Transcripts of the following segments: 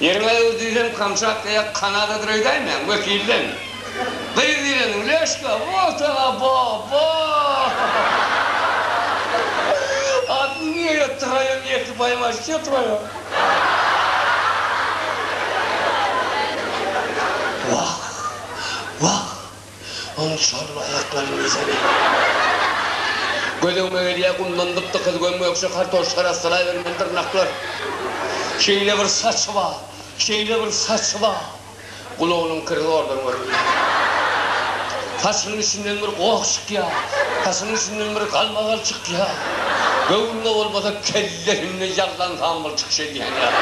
Ýeriňe gyz diýseň Kamçatka ýa Kanadadyr öýdäýmäň, wekilden. Gyz diýleniň Leşka, Woltaga baba! Atly niýe ýatdyraýaň, ýeke paýym aşyk ýatyraýaň. Wah! Wah! Onuň çal aýaklaryny görsene. Gözegime gelýär, gumdan gyp-gykyz göm-gökje kartoşka arassalaybermeli dyrnaklar. Şeýle bir saçy bar, şeýle bir saçy bar. Gulagynyň kiri zordan görünýär. Saçynyň içinden bir goh çykýar, saçynyň içinden bir galmagal çykýar. Göwnüne bolmasa kellesinde ýaglan sambyl çykyş edýän ýaly.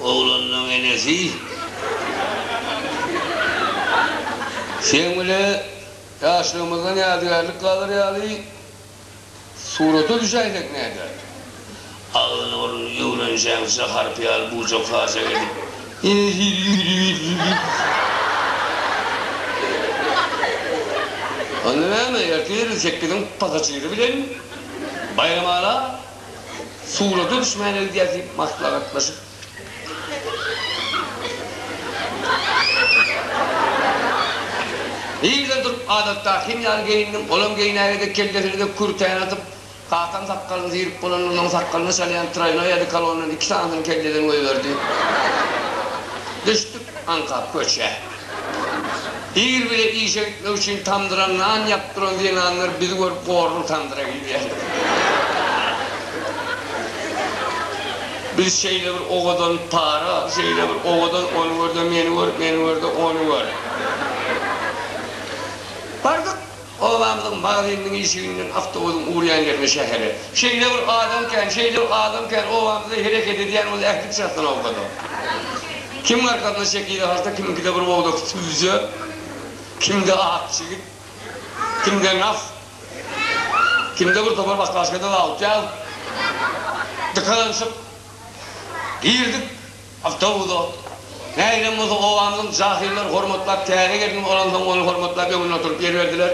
Oglanlaň enesi seň bile ýaşlygymyzdan ýadygärlik galar ýaly surata düşäýsek näder? Agzyny burnuny öwrenjeňçä harpy ýaly bujak-hajak edip, enesi diýdi-diýdi. Onda näme, ertir sekiziň pasažiri bilen baýramala. surata düşmäne gidýäs diýip maslahatlaşyp Birden durup adatdakym ýaly geýindim, olam geýnäge-de, kellesine-de kürtäni atyp, kakam sakgalyny syrap bolanyndan soň sakgalyna çalýan traýnoý odekolondan iki sanysyny kelleden goýberdi. Düşdük aňkap köçä. Ir bilen işe gitmek üçin tamdyra nan ýakyp duran zenanlar bizi görüp gorlup tamdyra girýärler. Biz şeýle bir owadan para, şeýle bir owadan ony gör-de meni gör, meni gör-de ony gör. Bardyk. Obaňyzyň magazyniniň işiginden awtobusyň urýan ýerine şähere. Şeýle bir adam kän, şeýle bir adam kän, obamyzda hereket edýän bolsa ähli çatdan awkada. Kimiň arkasynda şekili halta, kimiňkide bir bogdak sübje, kimde ak çigit, kimde nas, kimde bir topar bakkaşkada lawtýaz. Dykalanşyk. Girdik. Awtobusy, nägilem bolsa, obamyzyň jahyllar hormatlap, täze gelniň olansoň ony hormatlap öňünde oturyp ýer berdiler.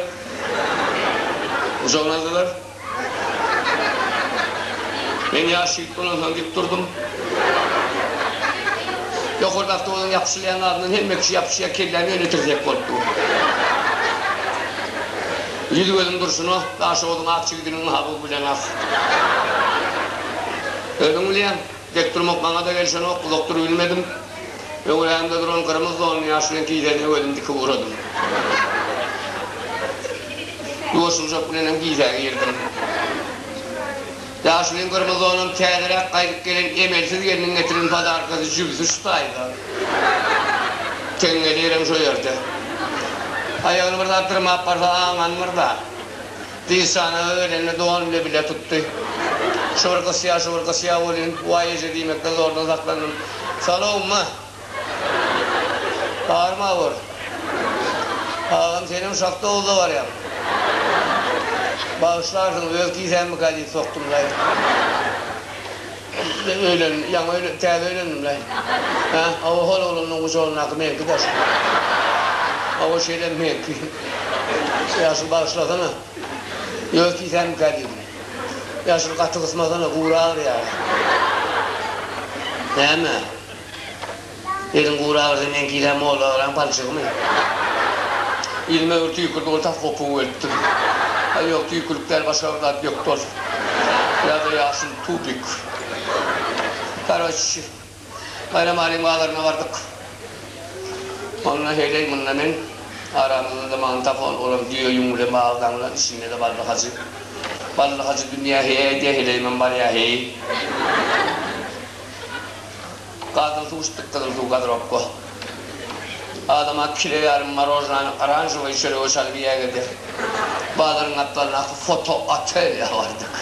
Gujakladylar. Men ýaş ýigit bolansoň dik durdum. Ýokarda awtobusyň ýapyşylýan adyndan hemme kişi ýapyşýar, kelläm ýöne tirsek bolup dur. Ýüz-gözüm durşuna, Daşoguzyň ak jigidiniňmi-ha bu bileňok. Özüň bilýäň. Dek durmak maňa-da gelşenok, uzak durubilmedim. Öňrägimde duran gyrmyz donly ýaş reňk gijäni öwezim dikip ugradym. Ýuwaşyljak bilenem gijä girdim. Ýaşulyň gyrmyz donam täzeräk gaýdyp gelen emelsiz gelniň getiren podarkasy jübüsi şu taýda. Teňňeli ýerem şo ýerde. Aýagyny bir zat dyrmap barsa aňanmyr-da. Dişana öýlende dogan bile bile tutdy. Şu bir gysýa, şu bir gysýa bolýun. Waý eje diýmekden zordan saklandym. Salow ma! Bary ma bor. Agam senem şahta owuza barýaň. Bagyşlarsyňyz öz kisämmikä diýip sokdumlaý. Öýlendim, ýaňy öýlendim, täze öýlendim-le. Hä, hawa, hol oglanlaryň gujagyndaky meňki daş. Hawa, şeýle meňki. Ýaşuly, bagyşlasana. Ýöz tiýsänmikä diýdim. Ýaşuly, gaty gysmasana, gury agyrýar-a. Näme? Eliň gura agyrsa meňki ýilen molla agyran palçygymy? Ýüzüme öwür tüýkürdi ol tas gopugy weltdim. Aý ýok tüýkülik däl başga bir zat ýok dol. Ýa-da ýaşyl tubik. Karoçi Baýram Alim bazaryna bardyk. Onda heýleý munda men aramyzda-da magnitofon olam düýe ýüň bilen baglanylan içinde-de Bally Hajy. Bally Hajy dünýä heý aýdýa heleýimem barýa heý. Gazyl suw içdik gyzyl suw gazyropka. Adama kile ýarym morojnany oranžowyy çörege çalyp iýäge de. Bazaryň gapdalyndaky foto otelýa bardyk.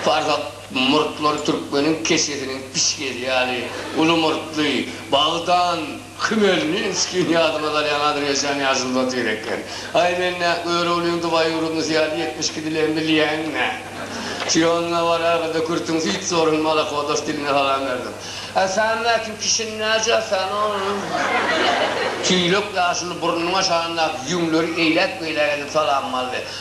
Farzat murtlary türkmeniň keçesiniň pişgeli ýaly uly murtly, bagdan, Hmelninskiň ýadyma salýan Adreýaçany ýaşyldatys gerek eken. Aý men nä, Göroglyň Dubaý ýurdundysy ýaly ýetmiş iki dilem bilýäň nä? Siona baragada kürtüň süýt zorun malakodas diline salam berdim. Ä sen nä kim kişini näce sen onuň? Tüýlek ýaşyl burnunyň aşagyndaky ýüňleri eýläk-beýläk edip salamym aldy.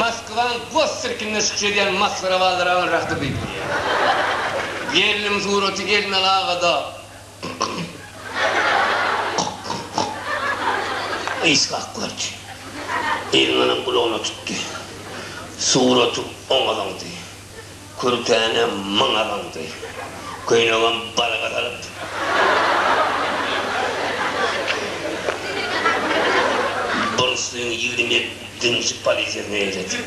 Moskwanyň gos sirkinde çykyş edýän masgara bazaragyň rakyby. Gelnim suraty Elmel agada. Yshak gördi. Elmeliň gulagyna tutdy. Suraty oňa zyňdy. Kürtäne myň abandy. Köýnegem balga salyp. Buruslyň ýigrimini dümşük polisiýasyna eýledi.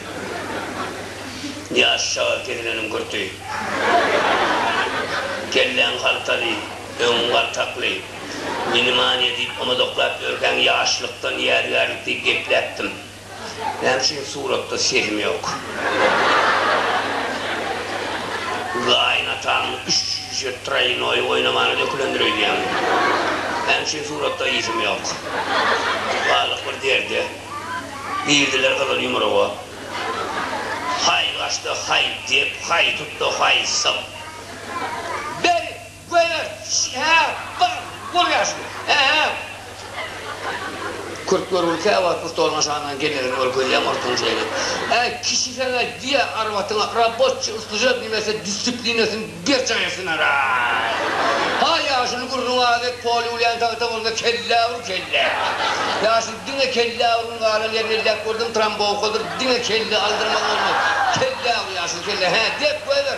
Ýaş çaga kesileniň kürti. Kelläň haltaly, öňüň galtakly. Meni many diýip omazaklap ýörkäň ýaşlykdan ýadygärlik diýip gepläpdim. Näme üçin suratda sesim ýok? Gaýynatam üç jüýje traýnoý oýnamana dökülendir öýdýän. Näme üçin suratda yzym ýok? Galdyk bir derde. Girdiler gyzyl ýumruga. Haý gaçdy, haý dep, haý tutdy, haý syp. Beri! Göýer, ş-ä, bar, bol ýaşuly, ä-ä! Kürt görgüli käwagt bu stoluň aşagyndan gelmegini ol gözläp ortaňjyra gelip, Äý, kişi sen-ä diýýä arwatyňa, rabotçy, ussujak nimesi dissiplinasyn berjaý etsinaraý! Haý, ýaşuly gürrüňi az et, poly ulýan tagta bolsa kellä ur, kellä! Ýaşuly diňe kellä ur, ony galan ýerini elläp gördüm, trambowkadyr, diňe kelle aldyrmaly bolmaz, kellä ur, ýaşuly, kellä, hä, dep, göýber!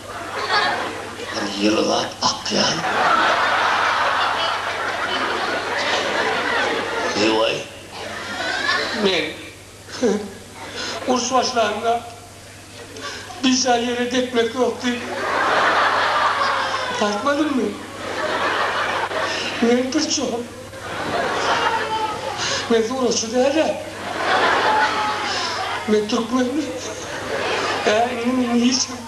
Bir ýylgap akýan. Ýowaý. Men uruş başlanda birža ýere depmek ýokdy. Bartmadymmy? Men pirçogum. Men suratçy dälä. Men türkmenmi? Hä, indi meni hiç kim